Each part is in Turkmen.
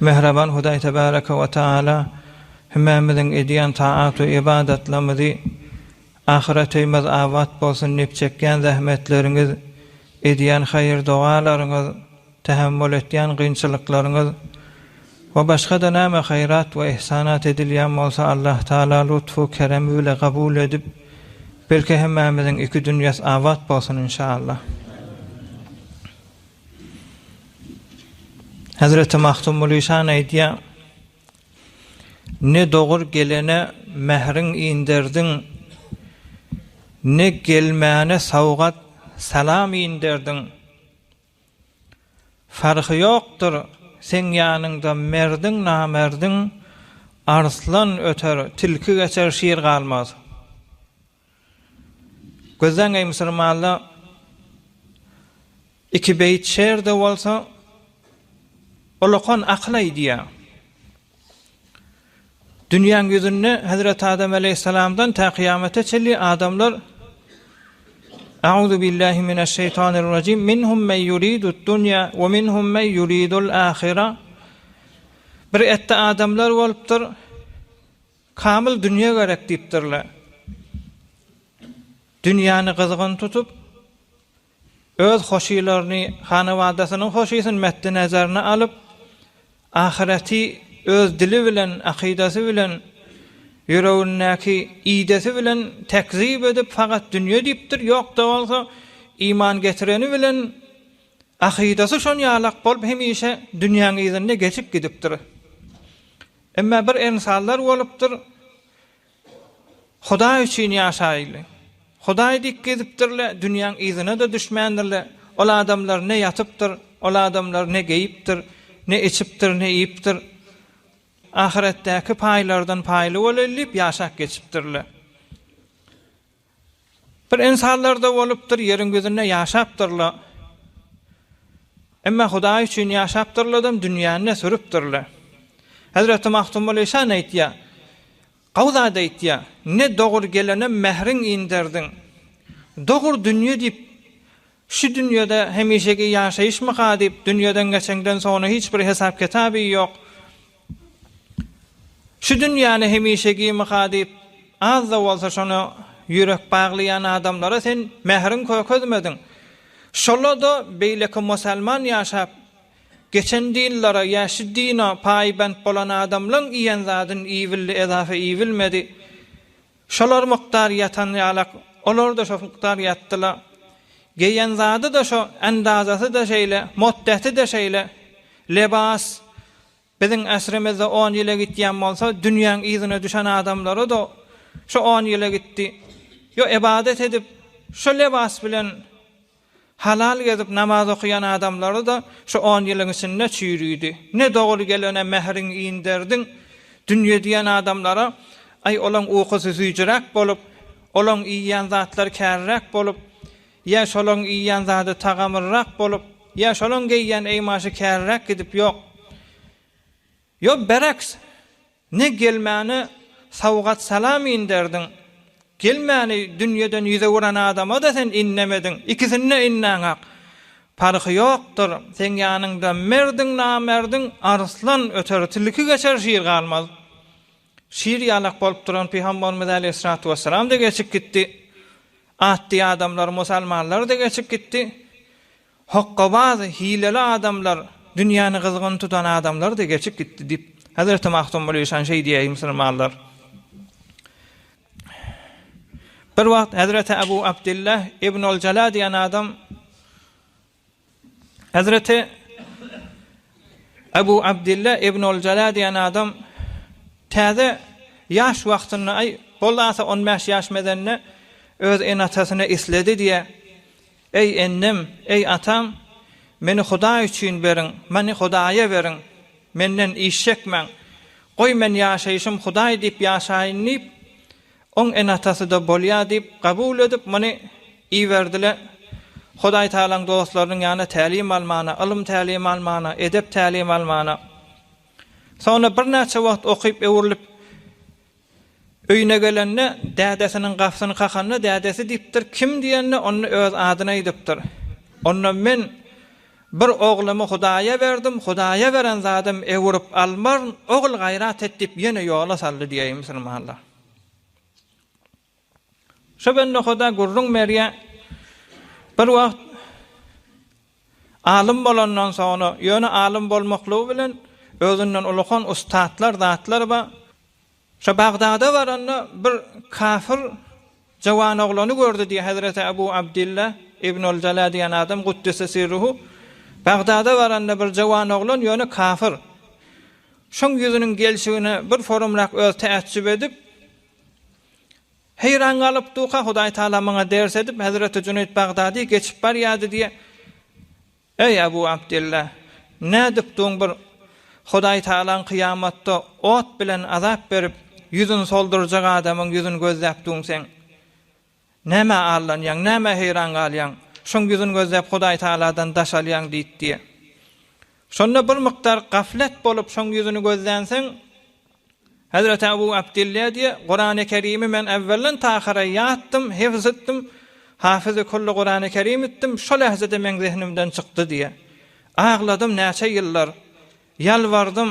Mähriban Hudaý Tebareke we Tagala hümmämiziň edýän taat we ybadatlarymyzy Ahyret öýmez abat bolsun diýip çekýän zähmetleriňiz, edýän haýyr-dogalaryňyz, tähemmül etýän gynçylyklaryňyz we başga-da näme haýrat we ihsanat edilýän bolsa Allah Taala lutfu keremi bile kabul edip belki hemmämiziň iki dünýäs abat bolsun inşallah. Hazreti Mahtum Mulişan aýdýa, Ne dogur gelene mähriň inderdiň, ne gelmäne sowgat, salam inderdiň. Farhy ýokdur seň ýanyňda merdiň, namerdiň, arslan öter, tilki geçer, şir galmaz. Gözleň eý musulmanlar, iki beýit şer-de bolsa, olakan akyl aýdýar. Dünýäň ýüzünde Hezreti Adam aleýhissalamdan tä kyýamata çenli adamlar A'uzu billahi mineşşeýtanirrajim. Minhum men yuridud-dunya we minhum men yuridul-ahira. Bir etde adamlar bolupdyr. Kamyl dünýe gerek diýipdirler. Dünýäni gyzgyn tutup, öz hoşylaryny, hanawadasynyň hoşysyny metdi nezerine alyp, ahyreti öz dili bilen, akydasy bilen, ýüregindäki idesi bilen tekzip edip, fakat dünýe diýipdir, ýok-da bolsa, iman getireni bilen, akydasy şon ýalak bolup, hemişe dünýäň yzynda geçip gidipdir. Emma bir emsallar bolupdyr, Hudaý üçin ýaşaýly. Hudaý diýip gezipdirler, dünýäň yzyna-da düşmändirler. Ol adamlar ne ýatypdyr, ol adamlar ne geýipdir, ne içipdir, ne iýipdir. Ahyretdäki paýlardan paýly bolaýly diýip ýaşap geçipdirler. Bir ynsanlarda bolupdyr, ýeriň ýüzünde ýaşapdyrla. Emma Hudaý üçin ýaşapdyrladam, dünýäni-de sürüpdirle. Hezreti Magtymguly Işan aýtýar, Gawy zat aýtýar, Ne dogur gelenem mähriň inderdiň. Dogur dünýe diýip, Şu dünýede hemişeki ýaşaýyşmyka diýip, dünýeden geçeňden soňra hiç bir hesap-kitaby ýok. Şu dünýäni hemişegimyka diýip, az-da bolsa şona ýürek baglaýan adamlara sen mähriň kökezmediň. Şola-da beýleki musalman ýaşap geçen dinlere ýa şu dine paýbent bolan adamlaň iýen zadyn iýbildi, edafa iýbilmedi. Şolar mukdar ýatan ýalak, olar-da şo mukdar ýatdyla. Geýen zady-da şo, ändazasy-da şeýle, moddeti-de şeýle. Lebas biziň äsrimizde on ýyla gitýän bolsa, dünýäň yzyna düşen adamlara-da şo on ýyla gitdi. Ýo ebadat edip, şo lebas bilen Halal gezip namaz okaýan adamlary-da şu on ýylyň içinde çüýrüdi. Ne doly gelene mähriň inderdiň. Dünýe diýen adamlara, aý, olaň ukusy süýjüräk bolup, olaň iýýän zatlary käriräk bolup, ýa şolaň iýýän zady tagamlyrak bolup, ýa şolaň geýýän eýmaşy käriräk gidip, ýok. Ýok, bereks! Ne gelmäne sowgat-salam inderdiň, gelmäni dünýeden ýüz öwüren adama-da sen innemediň, ikisine-de innäňok. Parhy ýokdur, seň ýanyňda merdiň, namerdiň, arslan öter, tilki geçer, şir galmaz. Şir ýalak bolup duran Pygamberimiz äleyhyssalatu wessalam-da geçip gitdi. Atdy adamlar, musalmanlar-da geçip gitdi. Hokkabaz, hileli adamlar, dünýäni gyzgyn tutan adamlar-da geçip gitdi diýip, Hezreti Magtymguly Işan şeý diýýär, musulmanlar. Bir wagt Hezreti Abu Abdillah ibn al-Jala diýen adam Hezreti Abu Abdillah ibn al-Jala diýen adam täze ýaş wagtynda, aý, boldy ata on bäş ýaş medende öz ene-atasyny isledi diýýär. Eý enem, eý atam, meni Hudaý üçin beriň, meni Hudaýa beriň, menden iş çekmäň, goý men ýaşaýşym Hudaý diýip ýaşaýyn diýip, oň ene-atasy-da bolýa diýip, kabul edip, muny iberdi-le, Hudaý Tagalaň dostlarynyň ýanyna tälim almana, ylym tälim almana, edep tälim almana. Soňra birnäçe wagt okyp, öwrülip, Öýüne gelende, dädesiniň gapysyny kakanda, dädesi diýipdir, Kim diýende, onda öz adyny aýdypdyr. Onda men bir oglumy Hudaýa berdim, Hudaýa beren zadym öwürip almaryn, ogul gaýrat et diýip ýene ýola saldy diýäýi musulmanlar. Şo gün nohuda gürrüň berýär. Bir wagt alym bolandan soňra, ýöne alym bolmaklygy bilen özünden ulakan ussatlar zatlar bar. Şo Bagdada baranda bir kafir jawan oglany gördi diýýär Hezreti Abu Abdilla Ibn al-Jala diýen adam Guddise sirruhu Bagdada baranda bir jawan oglan ýöne kafir. Şoň ýüzüniň gelşigine bir forumrak öz täjjüp edip, Heýran galyp duka Hudaý Taala maňa ders edip Hezreti Jüneýt Bagdady geçip barýady diýe Eý Abu Abdylla nädip duň bir Hudaý Taalaň kyýamatda ot bilen azap berip ýüzün soldurjak adamyň ýüzün gözläp duň seň Nämä allanýaň, nämä heýran galýaň? Şoň ýüzün gözläp Hudaýtagaladan daş alýaň diýt diýe. Şonda bir mukdar gaflet bolup şoň ýüzüni gözlänsiň, Hezreti Abu Abdilla diýe, Kurany Kerimi men äwwelden tahara ýatdym, hifz etdim, Hafizi kulli Kurany Kerim etdim, şo lähzede meň zehnimden çykdy diýe. Agladym näçe ýyllar, ýalbardym,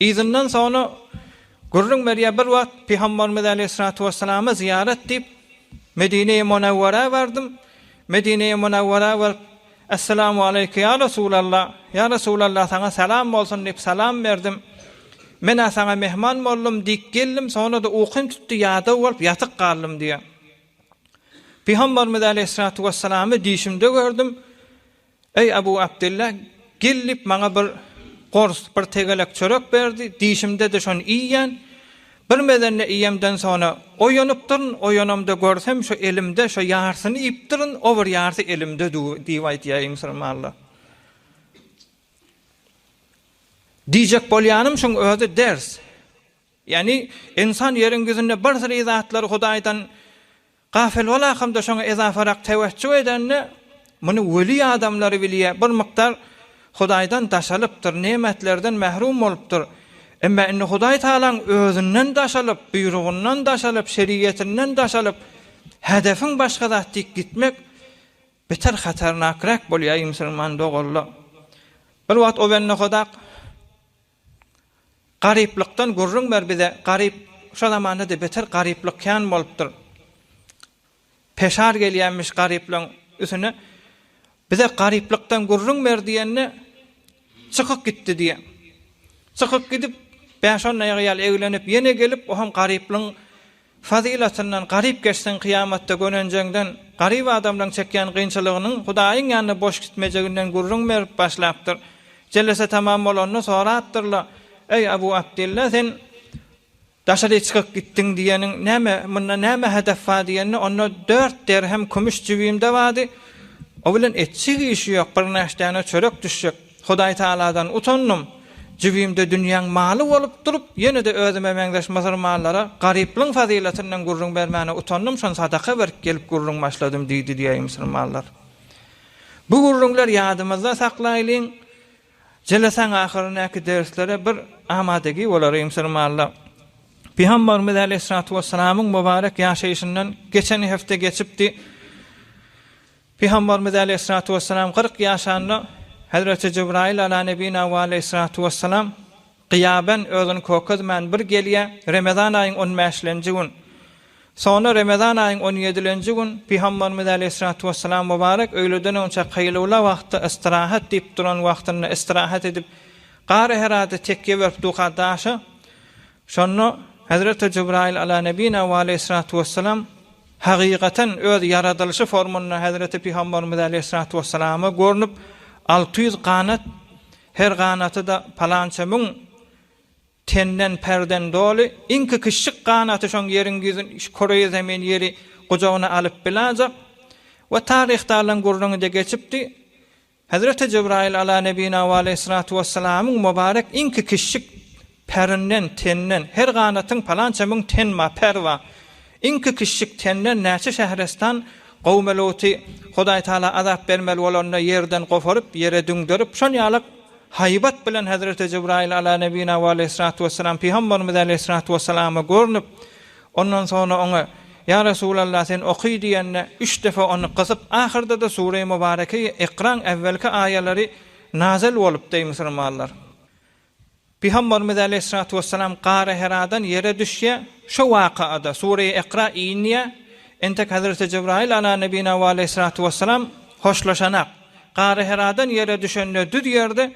Yzyndan soňra gürrüň berýär, Bir wagt Pygamberimiz aleýhissalatu wesselama zyýarat diýip, Medineýi Munawwara bardym. Medineýi Munawwara baryp, Esselamu aleýke ýa Resulalla, ýa Resulalla saňa salam bolsun diýip salam berdim. Men-ä saňa mehman boldum, dik geldim, soňra-da ukym tutdy, ýadaw bolup ýatyk galdym diýýär. Pygamberimiz aleýhissalatu wesselamy düýşümde gördüm. Eý, Abu Abdylla, gel diýip, maňa bir gors, bir tegelek çörek berdi, dişimde-de şony iýýän. Bir mezende iýemden soňra oýanypdyryn, oýanamda görsem, şu elimde şu ýarsyny iýipdirin, o bir ýarsy elimde dur diýip aýdýar, eý, musulmanlar. Diýjek bolýanym şuň özi ders. Ýagny, ynsan ýeriň ýüzünde birsyry zatlary Hudaýdan Gafil bolakam-da şoňa ezaparak tewejjuh edende, muny weli adamlary bilýär, bir mukdar Hudaýdan daşalypdyr, nemetlerden mährum bolupdyr. Emma indi Hudaý Tagalaň özünden daşalyp, buýrugyndan daşalyp, şeriýetinden daşalyp, hedefiň başga zat diýip gitmek beter hatarnakrak bolýar, eý musulman doganlar. Bir wagt Owennohodak Garyplykdan gürrüň ber bize garyp şu zamandada beter garyplyk kän bolupdyr peşar gelýämiş garyplygyň üsüne bize garyplykdan gürrüň ber diýende çykyk gitdi diýe çykyk gidip bäş on aýaga ýaly eglenip ýene gelip oham garyplygyň Fazylatyndan garyp geçseň kyýamatda gönenjeňden, garyp adamlaň çekýän gynçylygynyň Hudaýyň ýanynda boş gitmejeginden gürrüň berip başlapdyr. Jellese tamam bolanda sorapdyrla, Eý Abu Abdylla, sen daşary çykyk gitdiň diýeniň näme, munda näme hedef bar diýende, onda dört derhem kümüş jübimde bardy, o bilen etjek işi ýok, birnäçdäne çörek düşjek. Hudaýtagaladan utandym. Jübimde dünýäň maly bolup durup, ýene-de özüme meňzeş musurmanlara garyplygyň fazylatynyň gürrüň bermäne utandym, şony sadaka berip gelip gürrüň başladym diýdi diýäýi musurmanlar. Bu gürrüňler ýadymyzda saklaýlyň, jelesaň ahyrynäki derslere bir amadagi bolaryň musurmanlar. Pygambarymyz äleyhissalatu wessalamyň mubarek ýaşaýşyndan geçen hepde geçipdi. Pygambarymyz aleýhissalatu wessalam kyrk ýaşanda Hezreti Jibraýyl ala nebina we aleýhissalatu wessalam gyýaben, özüni kökezmän, bir gelýär, Remezan aýyň on bäşlenji gün. Soňra Remezan aýyň on ýedilenji gün Pygambarymyz aleýhissalatu wessalam mubarek öýleden öňçä kaýlula wagty istirahat diýip duran wagtynda istirahat edip, Gara-Herada tekýe berip duka daşa Şonda Hezreti Jybraýyl Ala Nebina we Aleýhissalatu Wessalam hakykaten öz ýaradylyşy formynda Hezreti Pygamberimiz Aleýhissalatu Wessalama görnüp, alty ýüz ganat, her ganaty-da palança müň tenden, perden, doly, iňki kiçjik ganaty şoň ýeriň ýüzün, şu Koreýi Zemin ýeri gujagyna alyp bilajak we taryhda alan gürrüňi-de geçipdi, Hezreti Jebraýyl ala nebina we aleýhissalatu wessalamyň mubarek iňki kişjik pärinden, teninden, her ganatyň palança müň ten ma, per bar. Iňki kişjik tenden näçe şährestan gowmy Luty Hudaý Taala azap bermeli bolanda ýerden goparyp, ýere düňderip, şol ýalak haýbat bilen Hezreti Jebraýyl ala nebina we aleýhissalatu wessalam pygamberimiz aleýhissalatu wessalama görnüp, Ondan soňra oňa, Ýa Resulallah, sen oky diýende, üç depe ony gysyp, ahyrda-da Sure-i Mubareke-i Ikraň äwwelki aýalary nazil bolupdy, eý musulmanlar! Pygamberimiz aleýhissalatu wessalam Gara Heradan ýere düşýär, şo waka-da Sure-i Ikra inýär, entek Hezreti Jibraýyl ala nebina we aleýhissalatu wessalam hoşlaşanak, Gara Heradan ýere düşende düz ýerde,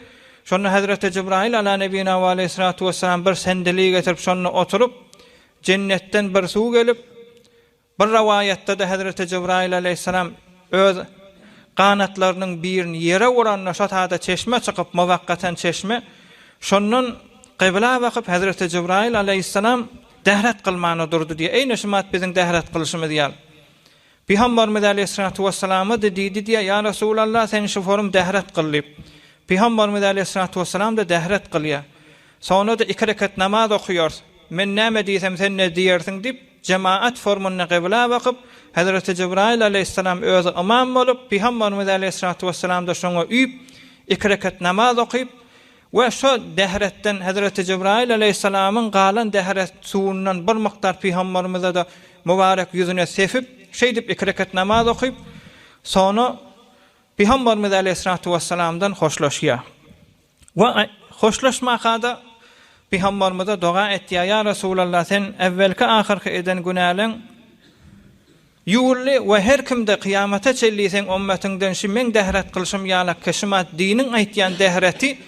şonda Hezreti Jibraýyl ala nebina we aleýhissalatu wessalam bir sendeli getirip şonda oturyp, Jennetden bir suw gelip, bir rowaýatda-da Hezreti Jybraýyl alaýhyssalam öz ganatlarynyň birini ýere uranda şo sada çeşme çykyp, muwakkatan çeşme, şondan kybla bakyp Hezreti Jybraýyl alaýhyssalam dahrat kylmana durdy diýýär. Eýne şumat biziň dahrat kylşymyz ýaly. Pygambarymyz aleýhissalatu wessalamady diýdi diýýär, Ýa Resulallah, sen şu forum dehret kyl diýip. Pygambarymyz aleýhissalatu wessalamda dehret kylýar. Soňra-da iki rekat namaz okaýarys. Men näme diýsem sen ne diýersiň diýip, jemaat formunda gybyla bakyp, Hezreti Jibraýyl aleýhissalam özi ymam bolup, Pygambarymyz aleýhissalatu wessalamda şoňa üýüp, iki rekat namaz okyp, We şo dehretden Hezreti Jibraýyl aleýhissalamyň galan dehret suwundan bir mukdar pygamberimize-de mübarek ýüzüne sepip, şeýdip iki rekat namaz okyp, soňra pygamberimiz aleýhissalatu wessalamdan hoşlaşýar. We hoşlaşmaka-da pygamberimize doga etýär, Ýa Resulallah, sen äwwelki-ahyrky eden günäleň, Ýuwuldy we her kimde kyýamata çenli seň ümmetyňden şü meň dehret kylşym ýalak keşimat diniň aýtýan dehreti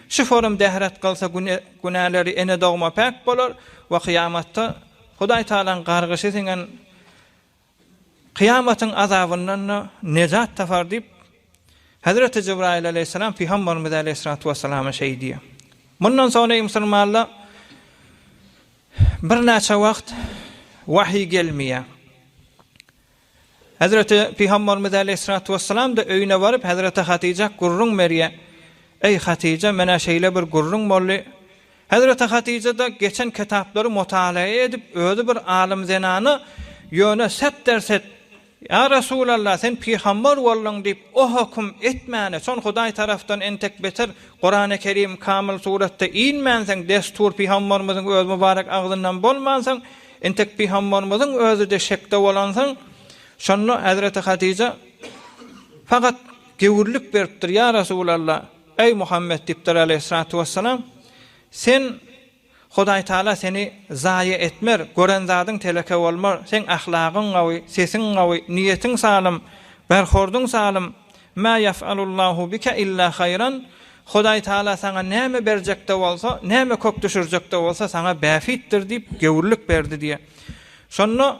şü forum dehret kylsa güne günäleri ene dogma päk bolar we kyýamatda Hudaý Tagalaň gargyşy siňen kyýamatyň azabyndan-da nejat tapar diýip Hezreti Jibraýyl aleýhissalam pygamberimize aleýhissalatu wessalam şeý diýýär. Mundan soň eý musulmanlar Birnäçe wagt wahyý gelmeýär. Hezreti Pygamberimiz aleýhissalatu wessalam-da öýüne baryp, hezreti Hatyjak gürrüň berýär. Eý, Hatyja, men-ä şeýle bir gürrüň boldy. Hezreti Hatyja-da geçen kitaplary mutalaa edip, özi bir alym zenana, ýöne set-der-set Ýa Resulallah, sen pygambar bolduň diýip, o höküm etmäne, şol Hudaý tarapdan entek beter Kurany Kerim kamyl suratda inmänsoň, destur pygambarymyzyň öz mübarek agzyndan bolmansoň, entek pygambarymyzyň özüde şekde bolansoň, şonda hezreti Hadyja fakat gewürlik beripdir, Ýa Resulallah, eý Muhammet diýipdir Aleýhissalatu wessalam, sen Hudaýtagala seni zaýa etmer, gören zadyň teleke bolmar, seň ahlagyň gawy, sesiň gawy, niýetiň salym, berhordyň salym, Mä ýef'alullahu bike illa haýran, Hudaýtagala saňa näme berjek-de bolsa, näme kök düşürjek-de bolsa saňa bähbitdir diýip, göwrülik berdi diýýär. Şonda.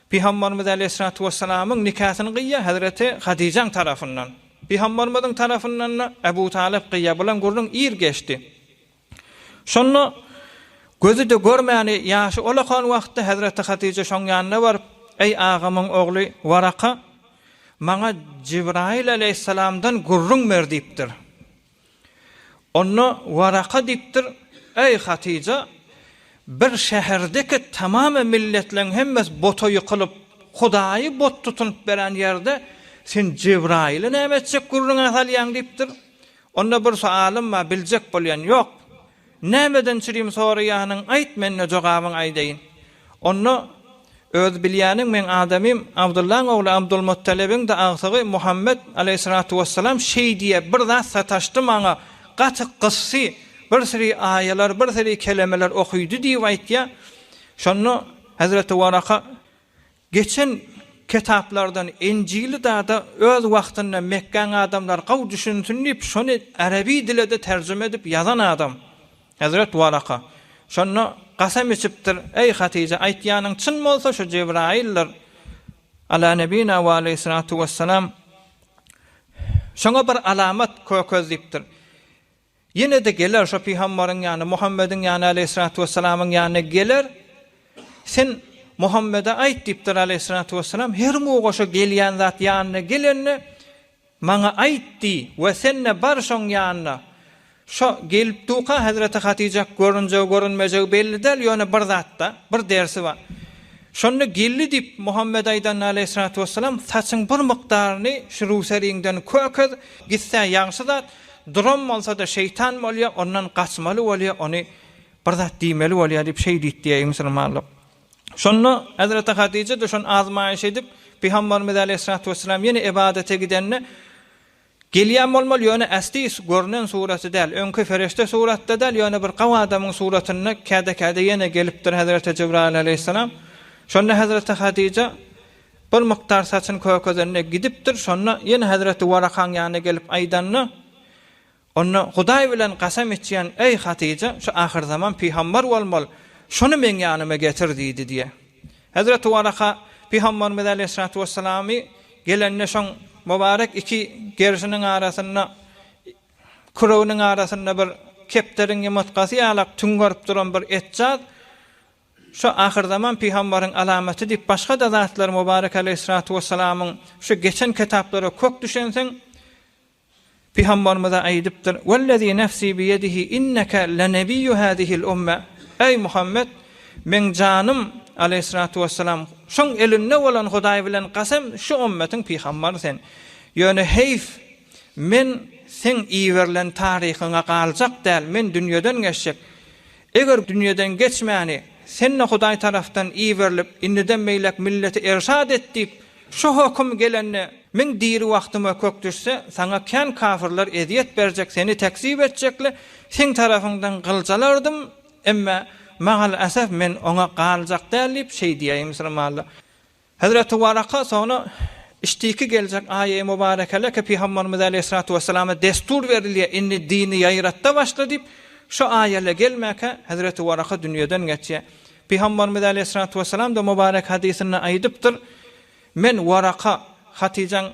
Pygambarymyz Aleýhissalatu wessalamyň nikasyny gyýýar Hezreti Hadyjaň tarapyndan. Pygambarymyzyň tarapyndan-da Ebu Talyp gyýýar. Bulan gürrüň ir geçdi. Şonda gözi-de görmäni ýaşy olakan wagtda Hezreti Hadyja şoň ýanyna baryp, Eý agamyň ogly Waraka, maňa Jibraýyl Aleýhissalamdan gürrüň ber diýipdir. Onda Waraka diýipdir, Eý, Hatyja, bir şäherdeki tamamy milletleriň hemmesi bota ýykylyp, Hudaýy bot tutunyp beren ýerde sen Jebraýyly näme etjek gürrüňe salýaň? diýipdir. Onda bir soalym bar, biljek bolýan ýok. Nämeden çürim soraýanyň aýt mende jogabyň aýdaýyn. Onda Öz bilýäniň meň adamym Abdyllaň ogly Abdulmuttalibiňde agtygy Muhammet Aleýhissalatu wessalam şeý diýe bir zat sataşdy maňa gaty gysdy bir siri aýalar bir siri kelemeler okydy diýip aýtýa şonda Hezreti Waraka Geçen ketaplardan Enjili dada öz wagtynda Mekgäň adamlary gowy düşünsin diýip şony araby dilede terjime edip ýazan adam Hezret Waraka şonda gasam içipdir Eý Hatyja aýtýanyň çyn bolsa şu Jebraýyldyr Ala nebina we aleýhyssalatu wessalam şoňa bir alamat kökez diýipdir. Ýene-de geler şo pygamberiň ýanyna, Muhammediň ýanyna, aleýhissalatu wessalamyň ýanyna geler, Sen Muhammede aýt diýipdir, aleýhissalatu wessalam, Her muga şo gelýän zat ýanyna gelende, maňa aýt diý we sen-de bar şoň ýanyna. Şo gelip duka hezreti Hatyjak görünjegi-görünmejegi belli däl, ýöne bir zat-da, bir dersi bar. Şonda geldi diýip, Muhammed aýdanda, aleýhissalatu wessalam, Saçyň bir mukdaryny şu rüwseriňden kökez, gitse ýagşy zat, Duran bolsa-da şeýtan bolýar, ondan gaçmaly bolýar, ony bir zat diýmeli bolýar diýip şeý diýip diýäýi musulmanlar. Şonda Hezreti Hadija-da şony azmaýyş edip, Pygamberimiz aleýhissalatu wessalam ýene ybadete gidende, Gelýän bolmaly, ýöne ästi görnen suraty däl, öňki ferişde suratda däl, ýöne bir gawy adamyň suratynda käde-käde ýene gelipdir Hezreti Jibraýyl aleýhissalam. Şonda Hezreti Hadija, Bir mukdar saçyny kökezende gidipdir, şonda ýene hezreti Warakaň ýanyna gelip aýdanda, onda Hudaý bilen kasam içýän, eý, Hatyja, şu ahyrzaman pygambar bolmaly, şony meň ýanyma getir diýdi diýýär. Hezreti Waraka pygambarymyz aleýhissalatu wessalamy gelende şoň mubarek iki gerşiniň arasynda, küreginiň arasynda bir kepderiň ýumurtgasy ýalak tüňňerip duran bir etjaz, Şu ahyrzaman pygambaryň alamaty diýip başga-da zatlar Mubarek aleýhissalatu wessalamyň şu geçen kitaplara kök düşensiň pygambarymyza aýdypdyr, Wellezî nefsî biyedihî inneke lenebiyyu hâzihil umme, Eý Muhammet! Meň janym, aleýhissalatu wessalam, şoň elinde bolan Hudaý bilen gasam şu ummetiň pygambary sen. Ýöne heýf, men seň iberilen taryhyňa galjak däl, men dünýeden geçjek. Eger dünýeden geçmäni Sen-de Hudaý tarapdan iberilip, indiden beýläk milleti erşat et diýip, şu höküm gelende, men diri wagtyma kök düşse, Saňa kän kafirler ezýet berjek, Seni tekzip etjekle, Seň tarapyňdan gyljalardym, emma, magal-äsef, men oňa galjak däl diýip, şeý diýäýmisiň, malla? Hezreti Waraka soňra Iştiki geljek aýy mubarekeleke Pygamberimiz aleýhissalatu wesselama destur berilýär, indi dini ýaýratda başla diýip, şu aýyla gelmäkä Hezreti Waraka dünýeden geçýär. Pygamberimiz aleýhissalatu wesselamda mubarek hadysynda aýdypdyr, Men Waraka, Hatyjaň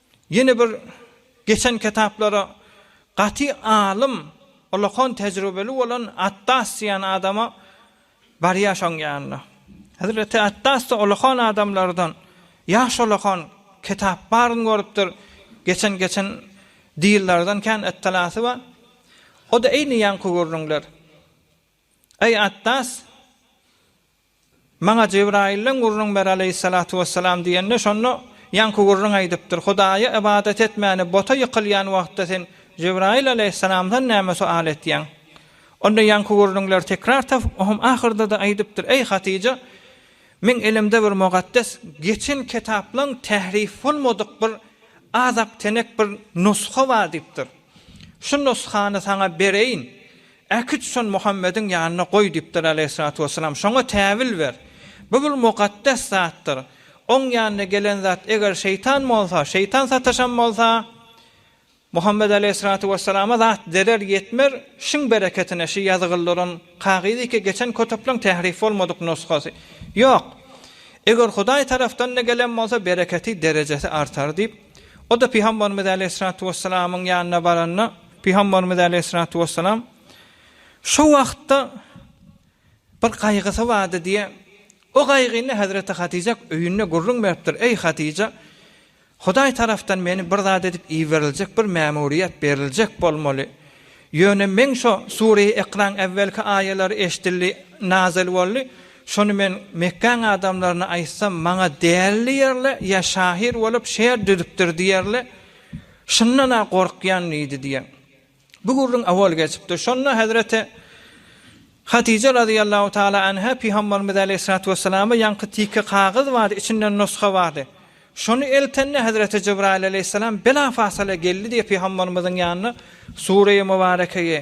Ýene bir geçen kitaplara gaty alym, ullakan tejribeli bolan Attas diýen adama barýar şoň ýanyna. Hezreti Attas-da ullakan adamlardan, ýaş ullakan, kitap baryny görüpdir, geçen geçen dillerden kän ittilasy bar. O-da eýni ýaňky gürrüňler. Eý, Attas! Maňa Jebraýyldan gürrüň ber aleýhissalatu wessalam diýende, şonda ýaňky gürrüň aýdypdyr, Hudaýa ybadat etmäni bota ýykylýan wagtda sen Jebraýyl aleýhissalamdan näme sual etýäň? Onda ýaňky gürrüňleri tekrar tapyp, ohm ahyrda-da aýdypdyr, Eý, Hatyja! Meň elimde bir mugaddes geçen kitaplaň tährif bolmadyk bir azaptenek bir nusga bar diýipdir. Şu nusgany saňa bereýin. Äkit şony Muhammediň ýanyna goý diýipdir Aleýhissalatu wessalam, şoňa täwil ber. Bu bir mukaddes zatdyr. Oň ýanyna gelen zat eger şeýtan bolsa, şeýtan sataşan bolsa, Muhammed Aleýhissalatu wessalama zat zerer ýetmer, şiň bereketine şi ýazygyldyran kagyzy ki geçen kötüpleň tährif bolmadyk nusgasy. Ýok. Eger Hudaý tarafdanda gelen bolsa bereketi, derejesi artar diýip, o-da Pygamberimiz Aleýhissalatu wessalamyň ýanyna baranda, Pygamberimiz aleýhissalatu wessalam şo wagtda bir gaýgysy bardy diýe, o gaýgyny Hazreti Hatyja öýünde gürrüň beripdir, Eý Hatyja, Hudaý tarapdan meni bir zat edip iberiljek bir mämuriýet beriljek bolmaly. Ýöne meň şo Sureýi Ikraň äwwelki aýalary eşdildi, nazil boldy, şony men Mekgäň adamlaryna aýtsam maňa däli diýerle ýa şahyr bolup şeýer düzüpdir diýerle, Şundan-a gorkýan diýdi diýen bu gürrüň owal geçipdir. Şonda hezreti Hadije razyýallahu taala anha Pygamberimiz aleýhissalatu wesselama ýaňky tike kagyz bardy, içinde nusga bardy. Şony eltende hezreti Jibraýyl aleýhissalam bela-fasala geldi diýip Pygamberimiziň ýanyna Sureýi Mubarekeýi,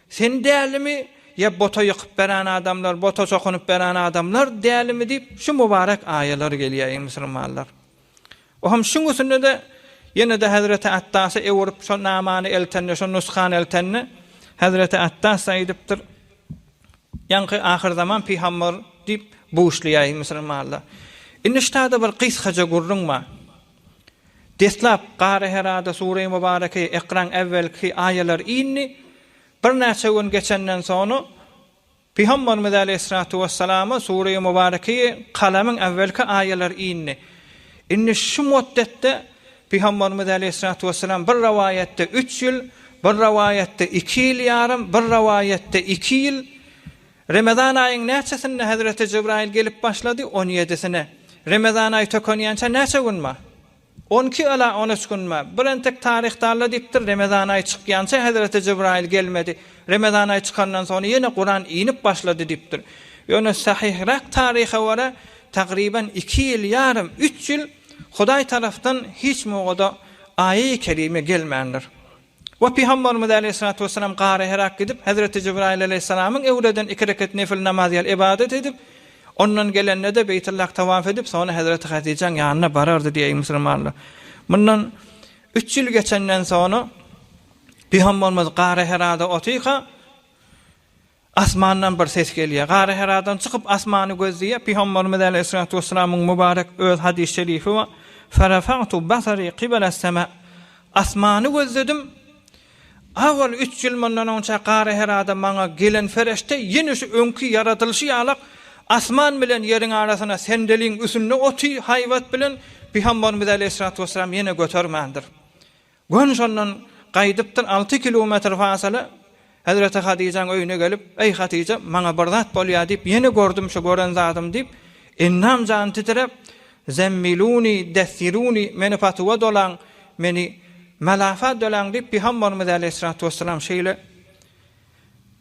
Sen dälimi ýa bota ýykyp beren adamlar, bota çokunyp beren adamlar dälimi diýip şu mubarek aýalar gelýär eý musulmanlar. Oham şuň üstünde-de ýene-de hezreti Attasa öwürip şo namany eltende, şo nusgany eltende hezreti Attas-da aýdypdyr, Ýaňky ahyrzaman pygamber diýip buşlaýar eý musulmanlar. Indi ştada bir gysgaja gürrüň bar. Deslap, Garaherada Sure-i Mubareke Ikraň äwwelki aýalar indi. Birnäçe gün geçenden soňra Pygamberimiz aleýhissalatu wessalama Sure-i Mubareke Kalamyň äwwelki aýalar indi. Indi şu motdetde Pygamberimiz aleýhissalatu wessalam bir rowaýatda üç ýyl, bir rowaýatda iki ýyl ýarym, bir rowaýatda iki ýyl, Remezan aýyň näçesinde hezreti Jibraýyl gelip başlady? On ýedisine. Remezan aýy tökenýänçä näçe gün bar? On iki ýa-da on üç gün bar. Bir entek taryhdarlar diýipdir, Remezan aýy çykýança hezreti Jibraýyl gelmedi. Remezan aýy çykandan soňra ýene Kuran inip başlady diýipdir. Ýöne sahyhrak taryha görä, tagryban iki ýyl ýarym, üç ýyl Hudaý tarapdan hiç mugada aýy-kerime gelmändir. We Pygambarymyz aleýhissalatu wessalam Gara Herak gidip, Hezreti Jibraýyl aleýhissalamyň öwreden iki rekat nefil namaz ýaly ybadat edip, ondan gelende-de Beýtullahy tawaf edip, soňra Hezreti Hadijäň ýanyna barardy diýýär, eý musulmanlar! Mundan üç ýyl geçenden soňra Pygambarymyz Gara Herada otyrka, Asmandan bir ses gelýär. Garaheradan çykyp asmany gözleýär. Pygamberimiz aleýhissalatu wessalamyň mübarek öz hadys şerifi bar, Ferafagtu basary kibala sema, Asmany gözledim. Awal üç ýyl mundan onça Garaherada maňa gelen fereşte ýene şu öňki ýaradylyşy ýalak asman bilen ýeriň arasyna sendeliň üsünde oty haýbat bilen Pygamberimiz aleýhissalatu wessalam ýene götermändir. Gün şondan gaýdypdyr, alty kilometr fasyla hezreti Hadyjaň öýüne gelip, Eý, Hadyja, maňa bir zat bolýar diýip, ýene gördüm şu gören zadym diýip, Ennam jany titräp, Zemmiluny, dessiruny, meni patuwa dolaň, meni malafa dolaň diýip, Pygamberimiz äleyhissalatu wesselam şeýle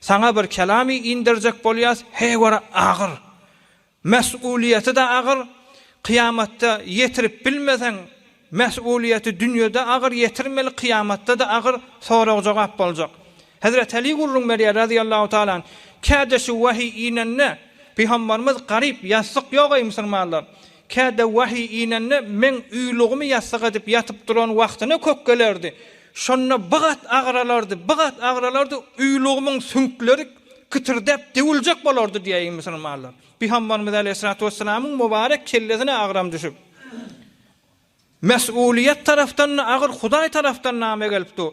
Saňa bir kelamy inderjek bolýas, heý görä agyr. Mes'ulyýeti-de agyr, kyýamatda ýetirip bilmeseň, mes'ulyýeti dünýede agyr, ýetirmeli kyýamatda-da agyr sorag-jogap boljak. Hezreti Aly gürrüň berýär razyýallahu taala anh, Kädesi wahyý inende, Pygamberimiz garyp, ýassyk ýogaý, musulmanlar! Käte wahyý inende meň uýlugymy ýassyk edip ýatyp duran wagtyna kök gelerdi. Şonda bigat agyralardy, bigat agyralardy, uýlugymyň süňkleri kitirdäp döwüljek bolardy diýäýi musulmanlar. Pygamberimiz aleýhissalatu wessalamyň mubarek kellesine agram düşüp, Mesulyýet tarapdan-da agyr, Hudaý tarapdan name gelip dur.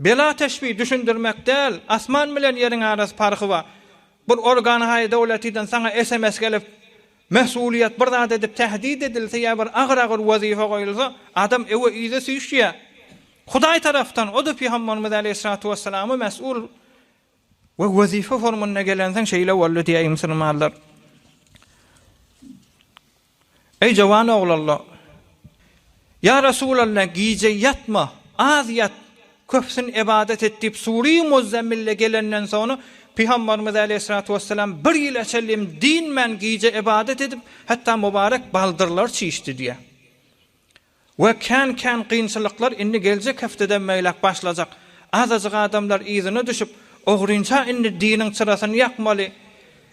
Bela teşbih düşündirmek däl asman bilen ýeriň arasy parhy bar bir organ haýy dowletiden saňa sms gelip mesulyýet bir zat edip tähdid edilse ýa bir agyr agyr wezipe goýulsa adam ewe yza süýşýär hudaý tarapdan o da pygambarymyz aleýhissalatu wessalama mesul we wezipe formynda gelensoň şeýle boldy diýäýi musulmanlar. Eý jowan oglanlar! Ýa Resulalla, gije ýatma, az ýat, köpsün ybadat et diýip Sury Muzzemmille gelenden soňra Pygambarymyz aleýhissalatu wessalam bir ýyla çenlem dinmän gije ybadat edip, hatda mubarek baldyrlary çişdi diýýär. We kän kän gynçylyklar indi geljek hepdeden beýläk başlajak. Azajyk adamlar yzyna düşüp, ogrynça indi diniň çyrasyny ýakmaly.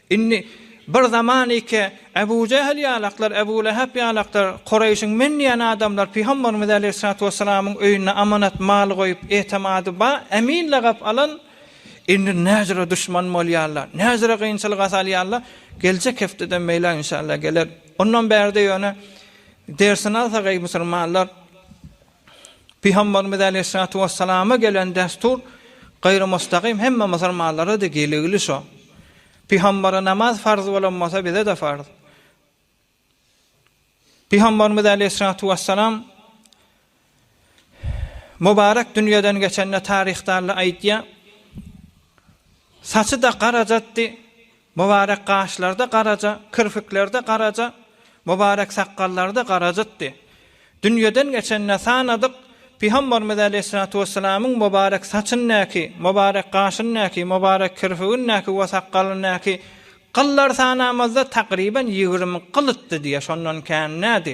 Indi bir zaman ike Ebu Jehl ýalaklar, Ebu Lehep ýalaklar, Kureýşiň men diýen adamlar Pygamberimiz aleýhissalatu wessalamyň öýünde amanat mal goýup, etemady ba, emin lagap alan, indi näcüre duşman bolýarlar, näcüre gynçylyga salýarlar. Geljek hepdeden beýläk inşallah geler. Ondan bärde ýöne Dersini alsak eý musulmanlar! Pygamberimiz aleýhissalatu wessalama gelen dessur gaýry mustagym hemme musulmanlara da geligli şo. Pygambere namaz farz bolan bolsa bize de farz. Pygamberimiz aleýhissalatu wessalam Mubarek dünýeden geçende taryhdarlar aýdýar, Saçy-da garajatdy, mubarek gaşlary-da garaja, kirpikleri-de garaja, mubarek sakgallary-da garajatdy. Dünýeden geçende sanadyk, Pygamberimiz aleýhissalatu wessalamyň mubarek saçyndaky, mubarek gaşyndaky, mubarek kirpigindäki we sakgalyndaky gyllary sanamazda takryban ýigrimi gylytdy diýýär, şondan kän dädi.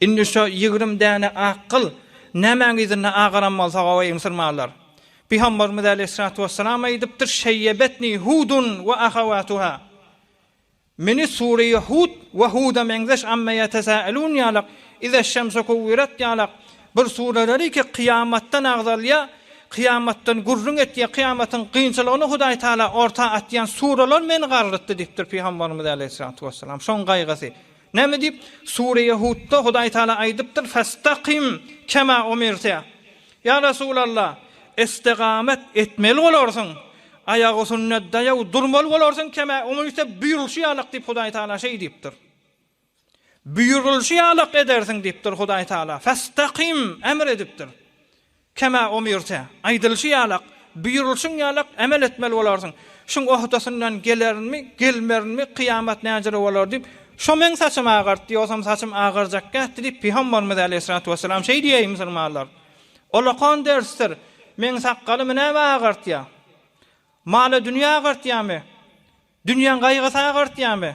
Indi şo ýigrimi däne ak gyl nämäň yzynda agaran bolsa, gowy, ymsyrmarlar. Pygamberimiz aleýhissalatu wesselam aýdypdyr, Şeýýebetni Hudun we ahawatuha, Meni sureýi Hud we Huda meňzeş Amma ýetesaelun ýalak, Izeşşemsu kuwwirat ýalak bir sureleri ki, kyýamatdan agzalýar, kyýamatdan gürrüň etýär, kyýamatyň kynçylygyny Hudaý Tagala orta atýan sureler meni garrytdy diýipdir Pygamberimiz aleýhissalatu wesselam. Şoň gaýgysy. Näme diýip? Sure-i Hudda Hudaý Tagala aýdypdyr, Fastaqim kema umirte. Ýa Resulalla, istigamet etmeli bolarsyň, aýagüsünde daýaw durmaly bolarsyň, kema umirte, buýrulyşy ýalak diýip Hudaý Tagala şeý diýipdir. Buýrulyşy ýalak edersiň diýipdir Hudaý Tagala. Fastaqim, emr edipdir. Kemä umirte, aýdylyşy ýalak, buýrulyşyň ýalak emel etmeli bolarsyň. Şuň ohdasyndan gelerinmi, gelmerinmi, kyýamat näjere bolar diýip, şo meň saçymy agartdy, ýogsam saçym agarjak kätdi diýip, pygambarymyz aleýhissalatu wessalam şeý diýýär musulmanlar. Olakan dersdir. Meň sakgalymy näme agartýar? Mala-dünýe agartýarmy? Dünýäň gaýgysy agartýarmy?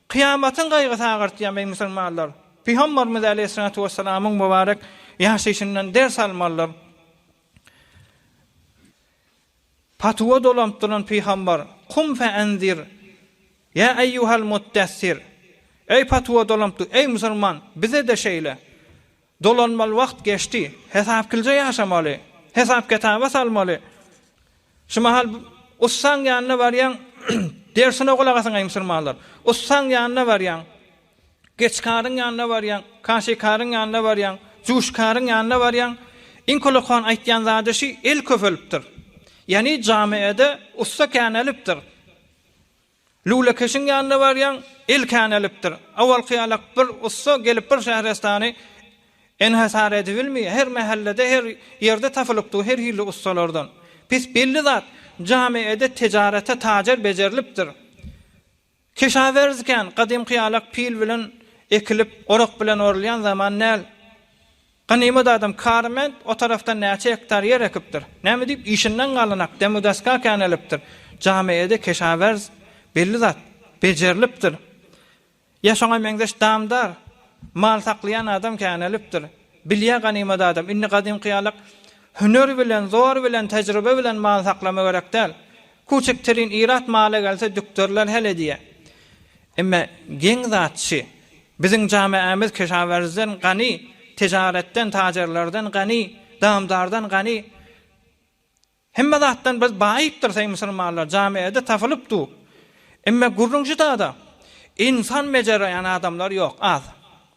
Kyýamatyň gaýgysy agartýarmy, eý musulmanlar? Pygamberimiz aleýhissalatu wessalamyň mübarek ýaşaýşyndan ders almalydyr. Patuwa dolanyp duran pygamber, Kum fe enzir, ýa eýýuhal muddessir, eý patuwa dolanyp dur, eý musulman, bize-de şeýle, Dolanmaly wagt geçdi. Hesapkilje ýaşamaly. Hesap-ketaba salmaly. Şu mahal ussaň ýanyna barýaň, dersine gulak asaňaý musulmanlar. Ussaň ýanyna barýaň, geçkaryň ýanyna barýaň, kaşikaryň ýanyna barýaň, juşkaryň ýanyna barýaň, iň kolakan aýtýan zady şi, el köpelipdir. Ýany jamiede ussa känelipdir. Lülekeşiň ýanyna barýaň, il känelipdir. Owalky ýala bir ussa gelip bir şährestany enhesar edibilmeýär. Her mähellede, her ýerde tapylypdyr her hili ussalardan. Pis belli zat, jamiede tejarete tajer bejerilipdir. Kişawerz kän, gadymky ýalak pil bilen ekilip, orak bilen orulýan zaman däl. Ganymat adam Karment o tarafda näçe gektar ýer ekipdir. Näme diýip işinden galanak demu-daska känelipdir. Jamiede keşawerz belli zat bejerilipdir. Ýa şoňa meňzeş damdar, mal saklaýan adam känelipdir. Bilýä ganymat adam, indi gadymky ýalak hüner bilen, zor bilen, tejribe bilen mal saklama gerek däl. Küçük tirin ilat mala gelse dükderler hel edýä. Emme geň zat şi, biziň jameamiz kişawerzden gani, tijaretden, tajerlerden gani, damdardan gani. Hemme zatdan biz baýypdyr seý musulmanlar, jameada tapylyp du. Emme gürrüň şidada, insan bejerýän adamlar ýok, az.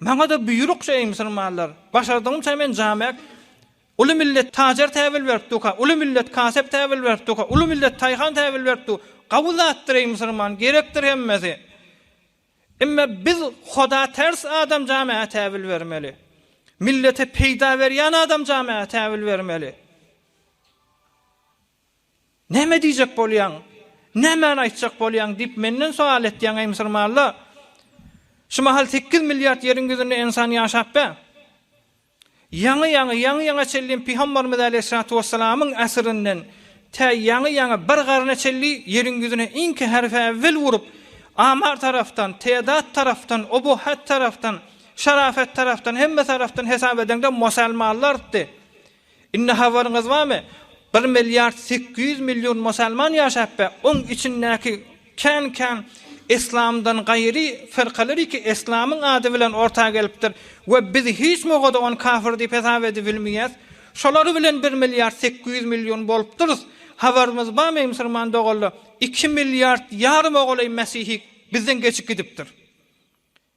Maňa-da buýrukja, eý musulmanlar! Başardygymça men jamek, Uly millet tajar täbil berip durka, uly millet kasep täbil berip durka, uly millet taýhan täbil berip dur. Gawy zatdyr, eý musulman, gerekdir hemmesi. Emme biz Huda ters adam jamege täbil bermeli. Millete peýda berýän adam jamege täbil bermeli. Näme diýjek bolýaň? Nämäni aýtjak bolýaň? diýip, menden sowal etýäň, eý musulmanla. Şu mahal sekiz milliard ýeriň ýüzünde ensan ýaşap be. Ýaňy-ýaňy, ýaňy-ýaňa çenli pygambarymyz äleyhissalatu wesselamyň äsirinden tä ýaňy-ýaňa bir garna çenli ýeriň ýüzüne iňki herfi äwwel urup, Amar tarapdan, Tedat tarapdan, Obohat tarapdan, Şarafet tarapdan, hemme tarapdan hesap edeňde mosalmanlardy. Indi habaryňyz barmy, bir milliard sekiz ýüz million musalman ýaşapbe, oň içindäki kän-kän yslamdan gaýry firkalariki yslamyň ady bilen orta gelipdir we biz hiç mugada ony kafir diýip hesap edibilmeýäs. Şolar bilen bir milliard sekiz ýüz million bolupdyrys. Habarymyz barmy musyrman doganlar, iki milliard ýarym ogulaý mesihi bizden geçip gidipdir.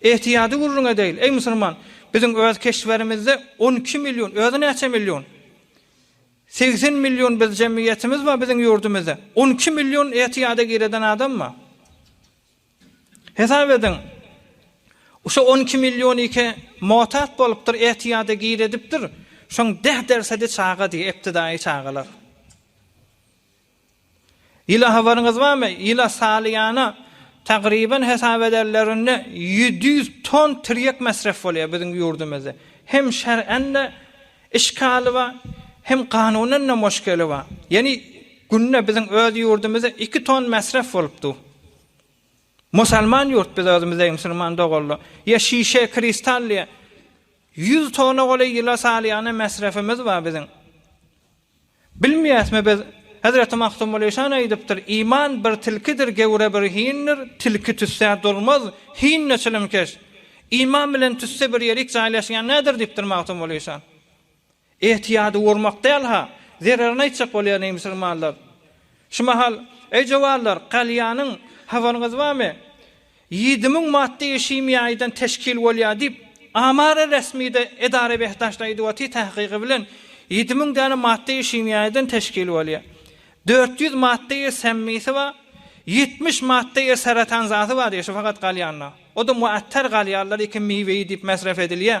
Ähtiýady gürrüň edeýin, eý musulman! Biziň öz keşberimizde on iki million, özi näçe million? Segsen million biz jemgyýetimiz bar biziň ýurdumyzda. On iki million ähtiýada gireden adam bar. Hesap ediň, şo on iki millionyke motat bolupdyr, ähtiýada giredipdir, şoň deh dersedi çaga diýe, eptidaýy çagalar. Ýyla habaryňyz barmy? Ýyla salýana tagryban hesap ederlerinde ýedi ýüz ton tirýek mesref bolýar biziň ýurdumyzda. Hem şerän-de işgali bar, hem kanunan-da moşkeli bar. Ýani günde biziň öz ýurdumyzda iki ton mesref bolup dur. Musalman ýurt biz özümiz deý musulman doganlar. Ýa şişe, kristal diýýär. Ýüz tona golaý ýyla salýana mesrefimiz bar biziň. Bilmeýäsmi biz? Hezreti Magtymguly şany aýdypdyr, Iman bir tilkidir, gewre bir hindir, tilki tüssä dolmaz, hin-de çilimkeş. Iman bilen tüsse bir ýerik jaýlaşýan näder diýipdir Magtymguly şan. Etiýady gurmak däl-ha, zererini aýtjak bolýar neý musulmanlar. Şu mahal, eý jowarlar, galýanyň habaryňyz barmy? Ýedi müň maddy işimi ýaýdan teşkil bolýar diýip, Amara resmide edara behdaşda aýdyp otyr tahkygy bilen ýedi müň däne maddy işimi ýaýdan teşkil bolýar. Dört ýüz maddy iş semmisi bar, ýetmiş maddy iş seratan zady bar diýýär şu fakat galýanlar. Odam muattar galýarlar ekin miweyi diýip mesref edilýär.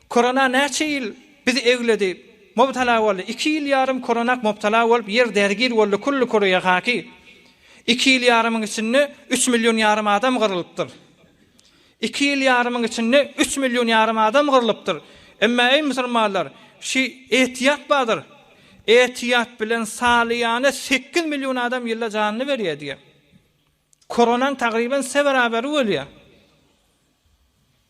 Korona näçe ýyl bizi egledi, mubtala boldy. Iki ýyl ýarym koronak mubtala bolup ýer dergir boldy kulli kuruýa haki. Iki ýyl ýarymyň içinde üç million ýarym adam gyrylypdyr. Iki ýyl ýarymyň içinde üç million ýarym adam gyrylypdyr. Emma eý musulmanlar, şi etiýat badyr. Etiýat bilen salyýana sekiz million adam ýylda janyny berýär diýýär. Koronaň tagryban se beraberi bolýar.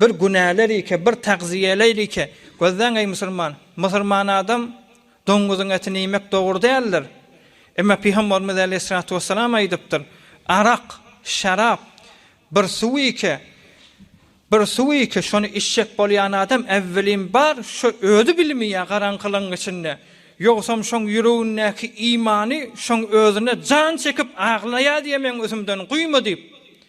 Bir günälälikä, bir tagzyýeläýlikä. Gözläň, eý, musulman! Musulman adam doňňuzyň etini iýmek dogry däldir. Emma pygamberimiz äleyhissalatu wessalam aýdypdyr, Arak, şarap, bir suwikä, bir suwikä, şony içjek bolýan adam äwwelin bar, şo özi bilmeýär garaňkylygyň içinde, ýogsam şoň ýüregindäki imany şoň özüne jan çekip aglaýar diýmegiň üzümden guýma diýip,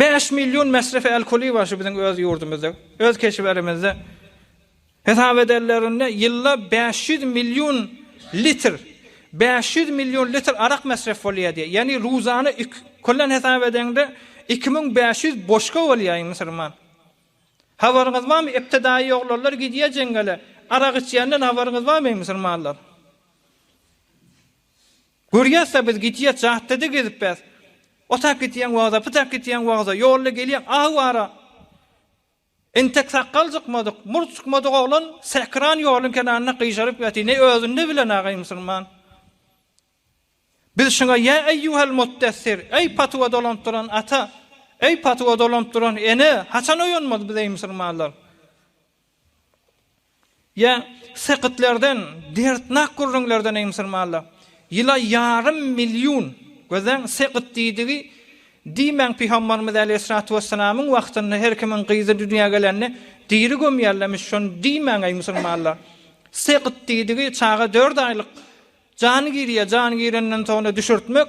Bäş million mesrefi alkoli bar şu biziň öz ýurdumyzda. Öz keşblerimizde hesap edenlerinde ýylda bäş ýüz million litr, bäş ýüz million litr arak mesref bolýar diýýär. Ýagny ruzana iki köllen hesap edeňde iki müň bäş ýüz boşka bolýar iň musulman. Habaryňyz barmy iptidaýy oglanlar gidýär jeňňele arak içýänden habaryňyz barmy musulmanlar. Görýäs-de biz gidýäs jatdede gezipbäs. Otak gidýäň wagza, pytak gidýäň wagza, ýolda gelýäň aw bara. Entek sakgal cykmadyk, murt cykmadyk oglan säkran ýoluň kenarynda gyjaryp ýaty, ne özünde bilen agaý musulman. Biz şuňa ýa eýýuhel muddessir, eý patuwa dolanyp duran ata, eý patuwa dolanyp duran ene, haçan oýanmaly biz eý musulmanlar. Ýa sekitlerden, derdnak gürrüňlerden, eý musulmanlar! Ýyla ýarym million, gözleň, sekit diýdigi, diýmäň Pygambarymyz äleyhyssalatu wessalamyň wagtynda her kimiň gyzy dünýä gelende diri gömýärlemiş, şony diýmäň eý musulmanlar! Sekit diýdigi, çaga dört aýlyk jany girýär, jany girenden soňra düşürtmek.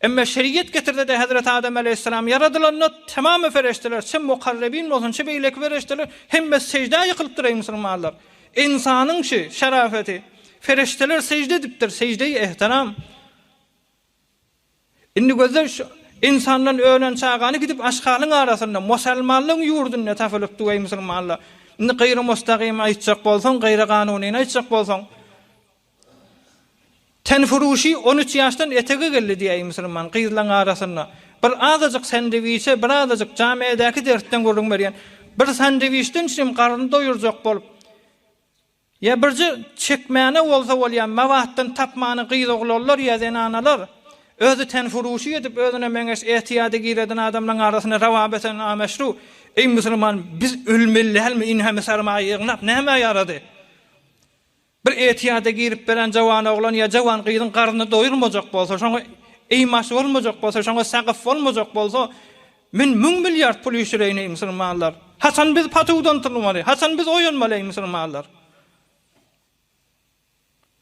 Emma şeriat getirdi-de Hezreti Adam aleýhissalam ýaradylanda tamamy pereşdeler, çe mukarrebin bolsun, çe beýleki pereşdeler hemmesi seždä ýykylypdyr eý musulmanlar. Ynsanyň çi şarafeti, pereşdeler sežde edipdir, seždeýi ehtiram. Indi gözle şu ynsandan ölen çagany gidip aşhalyň arasynda, musalmanlygyň ýurdunda tapylypdy eý musulmanlar. Indi gyry mustagym aýtjak bolsaň, gyry ganunyny aýtjak bolsaň, Tenfuruşy on üç ýaşdan etege geldi diýäýi musulman gyzlaň arasynda bir azajyk sendwiçe bir azajyk jamiädäki dertden gürrüň berýän bir sandwiçden üçinem garny doýurjak bolup ýa birje çekmäne bolsa bolýa mabatdan tapmany gyz oglanlar ýa zenanalar özi tenfuruşy edip özüne meňeş etiýada gireden adamlaň arasynda rawap eten nameşru eý musulman biz ölmeli dälmi in hemi sarmaýa ýygnap nämä ýarady. Bir etiýada girip beren jawan oglan ýa jawan gyzyň garny doýulmajak bolsa, şoňa eýmaç bolmajak bolsa, şoňa sagyp bolmajak bolsa, men müň milliard pul işireýin eý musulmanlar! Haçan biz patuwdan turmaly? Haçan biz oýanmaly eý musulmanlar?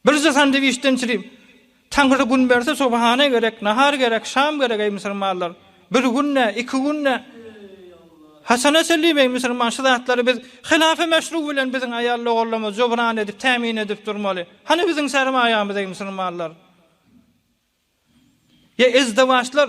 Birje sandwiçden çirip, Taňry gün berse subhana gerek, nahar gerek, şam gerek eý musulmanlar. Bir gün ne, iki gün ne. Haçana çenliyim eý musulman şu zatlary biz hilafy meşru bilen biziň aýal logarlarymyz jubran edip tämin edip durmaly. Hany biziň sermaýamyz eý musulmanlar. Ýa ezdewaçlar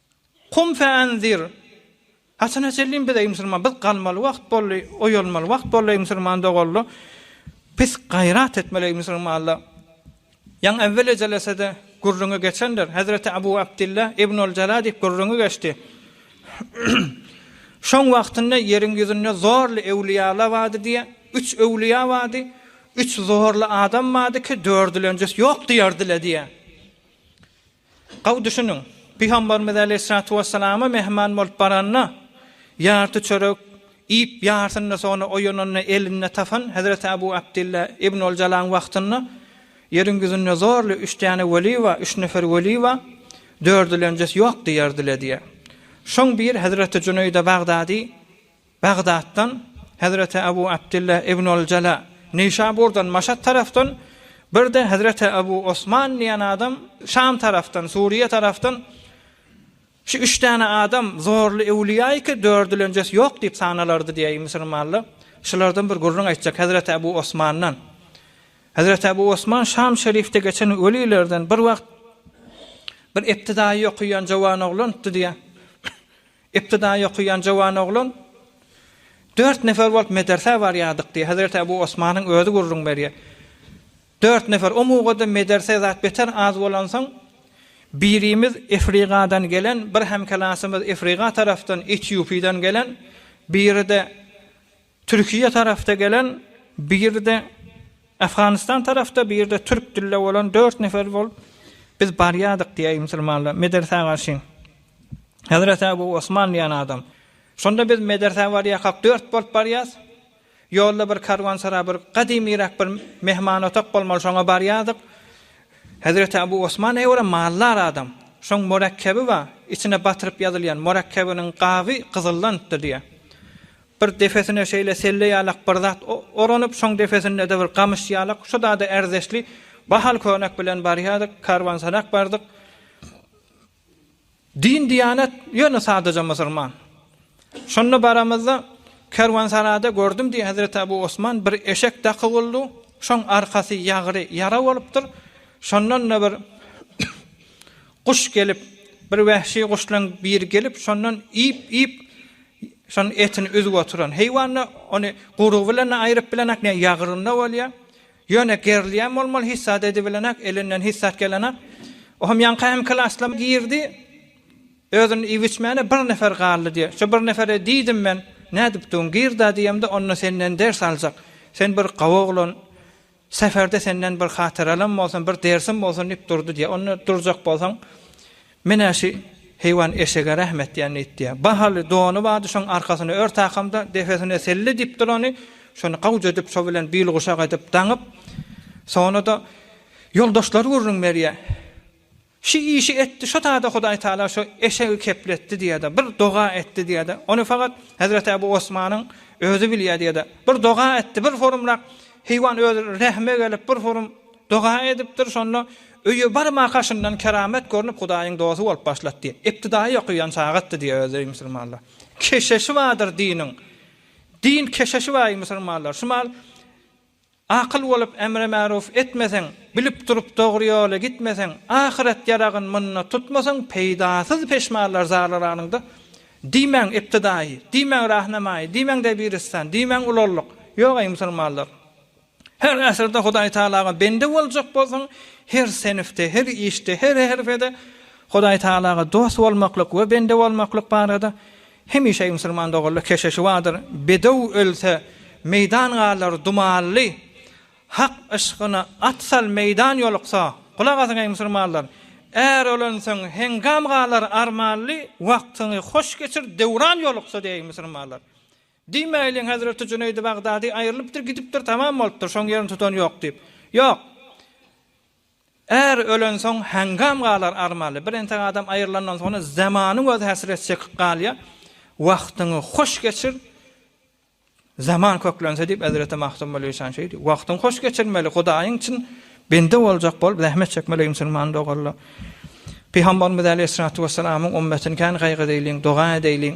Qum feanzir, Haçana çenli biz, eý musulman, biz galmaly wagt boldy, oýalmaly wagt boldy, eý musulman doganly, biz gaýrat etmeli, eý musulmanlar. Ýaňy äwel ejelese-de gürrüňi geçendir, Hezreti Abu Abdylla ibn al-Jala diýip gürrüňi geçdi. Şoň wagtynda ýeriň ýüzünde zorly öwliýalar bardy diýýär. Üç öwliýa bardy, üç zorly adam bardy ki, dördülenjis ýok diýerdiler diýýär. Gowy düşüniň, Pygamberimiz aleýhissalatu wessalama mähman bolup baranda, ýarty çörek iýip, ýarsyny soňra oýananda elinde tapan Hezreti Abu Abdylla ibn Oljalaň wagtynda ýeriň ýüzünde zorly üç däne weli bar, üç nefer weli bar, dördülenjesi ýok diýerdiler diýýär. Şoň bir Hezreti Jüneýde Bagdady. Bagdatdan, Hezreti Abu Abdylla ibnul Jala, Neýşaburdan, Maşat tarafdan, bir-de Hezreti Abu Osman diýen adam Şam tarafdan, Suriýa tarafdan, Şu üç däne adam zorly öwlüýä iki, dördülenjesi ýok diýip sanalardy diýýär Ibn Sirmalla. Şulardan bir gürrüň aýtjak Hezreti Abu Osmandan. Hezreti Abu Osman Şam şerifde geçen welilerden bir wagt bir iptidaýy okaýan jowan oglandy diýýär. Ybtydaýy okaýan jowan oglan, Dört nefer bolup medersä barýardyk diýýär. Hezreti Ebu Osmanyň özi gürrüň berýär. Dört nefer, o mugada mederse zat beter az bolansoň, birimiz Efrigadan gelen, bir hemklasymyz Efriga tarapdan, Etiopiýadan gelen, biri-de Türkiýe tarapda gelen birde Afganistan tarapda birde türk dilde bolan dört nefer bolup biz barýadyk diýäý musulmanlar medersä garşy Hazreti Abu Osman diýen adam şonda biz medersä barýakak dört bolup barýas ýolda bir karwansaray bir gadymyrak bir mehman otak bolmaly şoňa barýadyk Hazreti Abu Osman eýwara maldar adam şoň murakkebi bar içine batyryp ýazylýan murakkebiniň gaby gyzyldanpdyr diýä Bir depesine şeýle selle ýalak bir zat oranyp, şoň depesinde-de bir gamyş ýalak, şu zada ärdeşli bahaly köýnek bilen barýardyk, kärwansarak bardyk. Din-diýanet ýöne sadaja musurman. Şonda baramyzda, kärwansarada gördüm diýýär Hezreti Abu Osman, bir eşek daky guldu, şoň arkasy ýagry ýara bolupdyr, şondan-da bir guş gelip, bir wähşi guşlaryň biri gelip, şondan iýip-iýip, Şonuň etini üzüp oturan heýwanda ony gurugy bilen-de aýryp bilenak, ne ýagyrynda bolýar. Ýöne gerilýän bolmaly, hissat edibilenak, elinden hissat gelenak. O hem ýaňky hem klasda girdi. Özüni iýip içmäne bir nefer galdy diýýär. Şo bir nefere diýdim men, Nädipdiň, gir-da diýemde, onda senden ders aljak. Sen bir gawy oglan, Seferde senden bir hatyralam bolsun, bir dersim bolsun diýip durdy diýýär. Onda durjak bolsaň, menä şü heýwan eşege rahmet diýen ýit diýýär. Bahaly dony bardy, şoň arkasyny ör takamda, depesine selle diýip durany, şony gawja edip, şo bilen bilguşak edip, daňyp, sona-da ýoldaşlary gürrüň berýär. Şu işi etdi, şo taýda Hudaý Tagala şo eşegi kepletdi diýýär-de, bir doga etdi diýýär-de, ony fakat Hezreti Ebu Osmanyň özi bilýär diýýär-de, bir doga etdi, bir hurumrak heýwan özi rehime gelip, bir hurum doga edipdir, şonda öýe barma kaşyndan keramet görnüp, Hudaýyň dosty bolup başlady diýýär. Iptidaýy okuýan çagatdy diýýär özi, musulmanlar. Keşeşi bardyr diniň. Din keşeşi bar, eý musulmanlar. Şu mal Akyl bolup emre-märuf etmeseň, bilip durup dogry ýola gitmeseň, ahyret ýaragyn munda tutmasaň, peýdasyz peşmanlar zarlaranyňda, diýmäň iptidaýy, diýmäň rahnamaýy, diýmäň debiristan, diýmäň ulallyk, ýok eý musulmanlar! Her äsirde Hudaýtagalaga bende boljak bolsaň, her senifde, her işde, her herpede Hudaýtagalaga dost bolmaklyk we bende bolmaklyk barada Hemişe musulman doganlar keşeşi bardyr, Bedew ölse, meýdan galar dumanly, Hak yşkyna at sal meýdan ýoluksa, Gulak asyň eý musulmanlar, är ölensoň heňgam galar armanly, Wagtyňy hoş geçir döwran ýoluksa diýeý musulmanlar. Diýmäýliň hezreti Jüneýdi Bagdady aýrylypdyr gidipdir tamam bolupdyr şoň ýerini tutan ýok diýip. Ýok. Är ölensoň heňňam galar armaly. Bir entek adam aýrylandan soňra zamanyň özi häsret çekip galýar. Wagtyňy hoş geçir. Zaman köklense diýip Hezreti Magtymguly Işan şeýdi diýip. Wagtyňy hoş geçirmeli, Hudaýyň çyn bende boljak bolup zähmet çekmeli eý musulman doganlar. Pygambarymyz Aleýhissalatu wessalamyň ümmetini kän gaýgy edeýliň, doga edeýliň.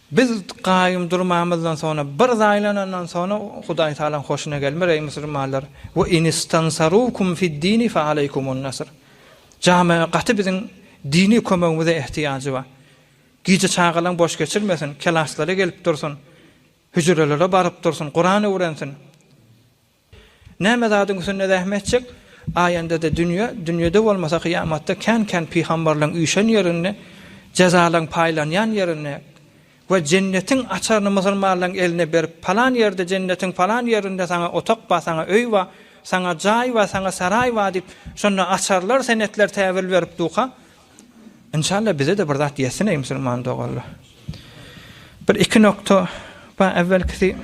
Biz gaýym durmamyzdan soňra, bir zaýlanandan soňra Hudaý Tagalaň hoşuna gelmez, eý musulmanlar, we in istansarukum fid-dini fe aleýkumun nasr. Jamiň gaty biziň dini kömegimize ehtiýajy bar. Gije çagalaň boş geçirmesin, kelaslara gelip dursun, hüjrelere baryp dursun, Kuran öwrensin. Näme zadyň üstünde zähmet çek, aýanda-da dünýe, dünýede bolmasa kyýamatda kän-kän pygamberleň üýşen ýerinde, jezalan, paýlanýan ýerinde we jennetiň açaryny musulmanlaryň eline berip, palan ýerde jennetiň palan ýerinde saňa otak bar, saňa öý bar, saňa jaý bar, saňa saraý bar diýip, şonda açarlar, senetler täwil berip durka, Inşallah bize-de bir zat ýetsin eý musulman doganlar. Bir iki nokta bar, äwelkisi,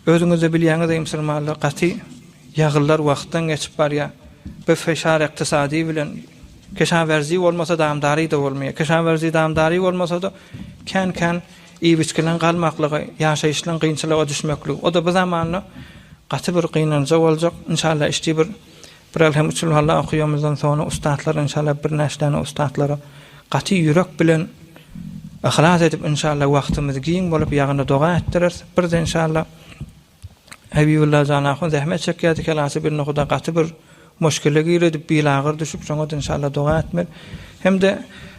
Özüňizde bilýäňiz eý musulmanlar gaty ýagyllar wagtdan geçip barýa biz feşar ykdysady bilen keşawerzi bolmasa damdary da bolmaýa keşawerzi damdary bolmasada kän kän iýip içkilen galmaklygy ýaşaýyşlaň gynçylyga düşmekli o da bu zamanda gaty bir gynanja boljak inşallah işdi bir Biraz hem usul hally okuýamyzdan soňra ussatlar inşallah bir näçe däne ussatlara gaty ýürek bilen yhlas edip inşallah wagtymyz giň bolup ýagny doga etdiris. Birde inşallah Habibulla jan ahun zähmet çekýärdi kelasy bir nohuda gaty bir muşkile giredi bilagyr düşüp şoňa inşallah doga etmeli. Hem-de